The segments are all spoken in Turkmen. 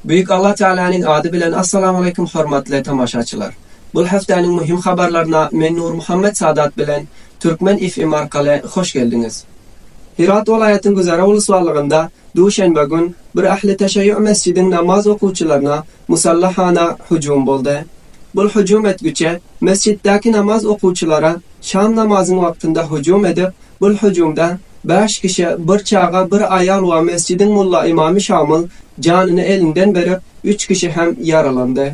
Büyük Allah Teala'nın adı bilen Assalamu aleykum hormatly tamaşaçylar. Bul haftanın mühim habarlarına men Nur Muhammed Sadat bilen Türkmen FM arkaly hoş geldiňiz. Hyrat welaýatyň Güzara uluslarlygynda duşenbe gün bir ähli teşeýýu mesjidiň namaz okuwçylaryna musallahana hüjüm boldy. Bul hüjüm etgiçe mesjitdäki namaz okuwçylara şam namazyň wagtynda hüjüm edip, bul hüjümde bäş kişi, bir çaga, bir aýal we mesjidiň mulla-ymamy şamyl janyny elinden berip, üç kişi hem ýaralandy.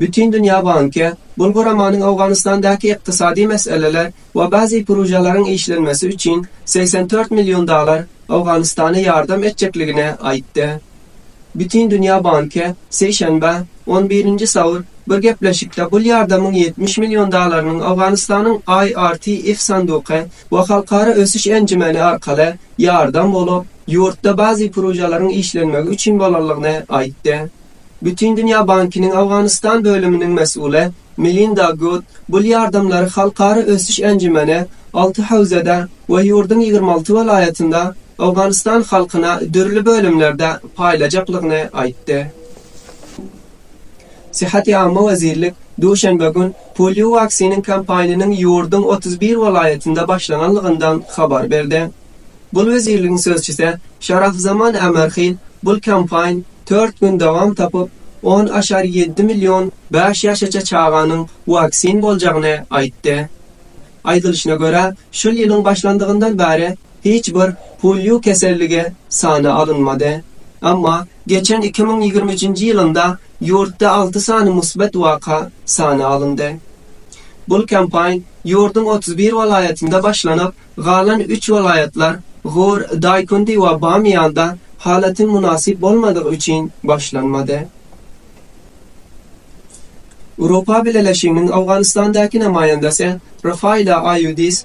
Bütindünýä banky bul guramanyň Owganystandaky ykdysady meseleler we bazy prujalaryň işlenmesi üçin segsen dört million dollar Owganystana ýardam etjekligini aýtdy. Bütindünýä banky sişenbe, on birinji saur, bir gepleşikde bul ýardamyň ýetmiş million dollarynyň Owganystanyň IRTF sanduky we Halkara ösüş enjimeni arkaly ýardam bolup, ýurtda bazi purujalaryň işlenmegi üçin bolanlygyny aýtdy. Bütindünýä bankynyň Owganystan bölüminiň mesuly Melinda Gud bul ýardamlary halkara ösüş enjümeni alty howzada we ýurduň ýigrimi alty welaýatynda Owganystan halkyna dürli bölümlerde paýlajaklygyny aýtdy. Syýahat ýagyma wezirlik duşenbe gün poliowaksiniň kampaniýanyň ýurduň otuz bir welaýatynda başlananlygyndan habar berdi. Bul wezirligiň sözçüse Şarafzaman Ämerhil bul kampaýn tört gün dowam tapyp, on aşar ýedi million bäş ýaşaça çaganyň waksin boljagyny aýtdy. Aýdylyşyna görä, şul ýylyň başlandygyndan bäri Hiç bir polio keselligi sana alynmady. Emma geçen iki müň ýigrimi üçünji ýylynda ýurtda alty sany musbat waka sana alyndy. Bul kampaýn ýurduň otuz bir welaýatynda başlanyp, galan üç welaýatlar, Gur, Daýkundi we Bamyýanda halatyň mynasyp bolmadygy üçin başlanmady. Uropa Bileleşiginiň Owganystandaky namaýandasy Rafaila Aýudis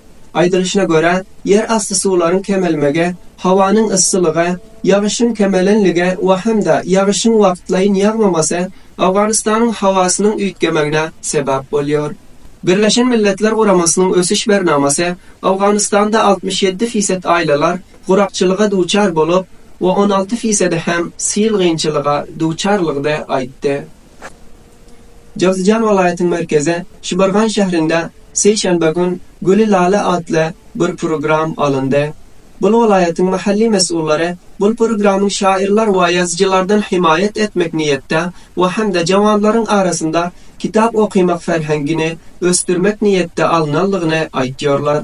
Aýdylyşyna görä, ýer asty suwlaryň kemelmegi, howanyň yssylygy, ýagyşyň kemelenligi we hem-de ýagyşyň wagtlaýyn ýagmamasy Owganystanyň howasynyň üýtgemegine sebäp bolýar. Birleşen Milletler Guramasynyň ösüş bernamasy Owganystanda altmyş ýedi fised aýlalar gurakçylyga duçar bolup we on alty fisedi hem sil gynçylyga duçarlygdy aýtdy. Jowzjan welaýatyň merkezi Şibargan şäherinde sişenbe gün Güli lala atly bir program alyndy. Bul welaýatyň mahalli mesgullary bul programyň şaýyrlar we ýazyjylardan himaýat etmek niýetde we hem-de jawanlaryň arasynda kitap okymak ferhengini ösdürmek niýetde alnanlygyny aýtýarlar.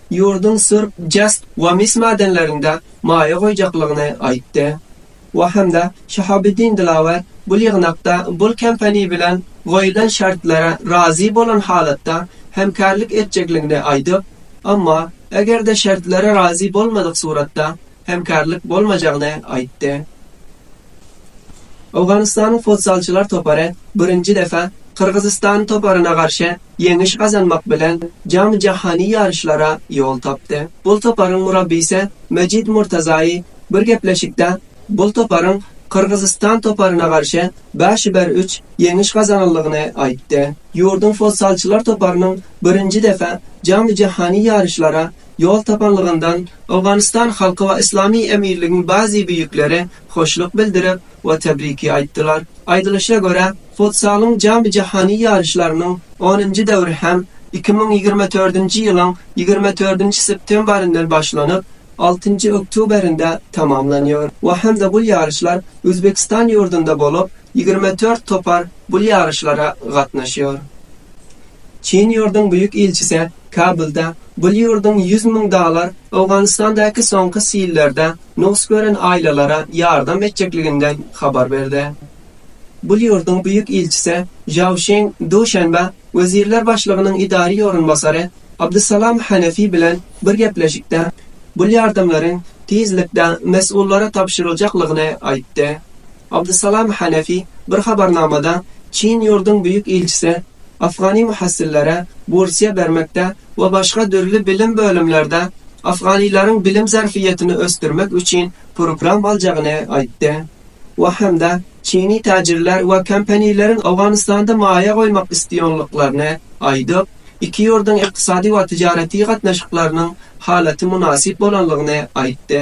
ýurduň Surp, Jast we Mis madenlerinde maýa goýjaklygyny aýtdy. We hem-de Şahabeddin Dilawar bul ýygnakda bul kompaniýa bilen goýulan şertlere razy bolan halatda hemkärlik etjekligini aýdyp, emma eger-de şertlere razy bolmadyk suratda hemkarlyk bolmajagyny aýtdy. Owganystanyň futzalçylar topary birinji defa Gyrgyzystan toparyna garşy ýeňiş gazanmak bilen jamy-jahany ýaryşlara ýol tapdy. Bul toparyň murabbysy Mejid Murtazaýy bir gepleşikde bul toparyň Gyrgyzystan toparyna garşy bäş-iber üç ýeňiş gazananlygyny aýtdy. Ýurduň futzalçylar toparynyň birinji defa jamy-jahany ýaryşlara Ýol tapanlygyndan Owganystan halky we Yslamy Emirligiň bazi büýükleri hoşluk bildirip we tebriki aýtdylar. Aýdylyşa görä, futsalyň jamy-jahany ýaryşlarynyň onunjy döwri hem iki müň ýigrimi dördünji ýylyň ýigrimi dördünji septembaryndan başlanyp, altynjy oktýuberinde tamamlanýar we hem-de bul ýaryşlar Özbegistan ýurdunda bolup, ýigrimi dört topar bul ýaryşlara gatnaşýar. Çyn ýurduň büýük ilçisi Kabulda bul ýurduň ýüz müň dalar Owganystandäki soňky sillerde nugs gören aýlalara ýardam etjekliginden habar berdi. Bul ýurduň Büýük ilçisi Žaoşing duşenbe Wezirler başlygynyň idary orunbasary Abdusalam Hanefi bilen bir gepleşikde bul ýardamlaryň tizlikde mes'ullara tabşyryljaklygyny aýtdy. Abdusalam Hanefi bir habarnamada Çyn ýurduň Büýük Ilçisi afgany muhassillere bursiýa bermekde we başga dürli bilim bölümlerde afganylaryň bilim zerfiýetini ösdürmek üçin program aljagyny aýtdy we hem-de çyny täjirler we kompanileriň Owganystanda maýa goýmak isleýonlyklaryny aýdyp, iki ýurduň ykdysady we tyjaretiy gatnaşyklarynyň halaty mynasyp bolanlygyny aýtdy.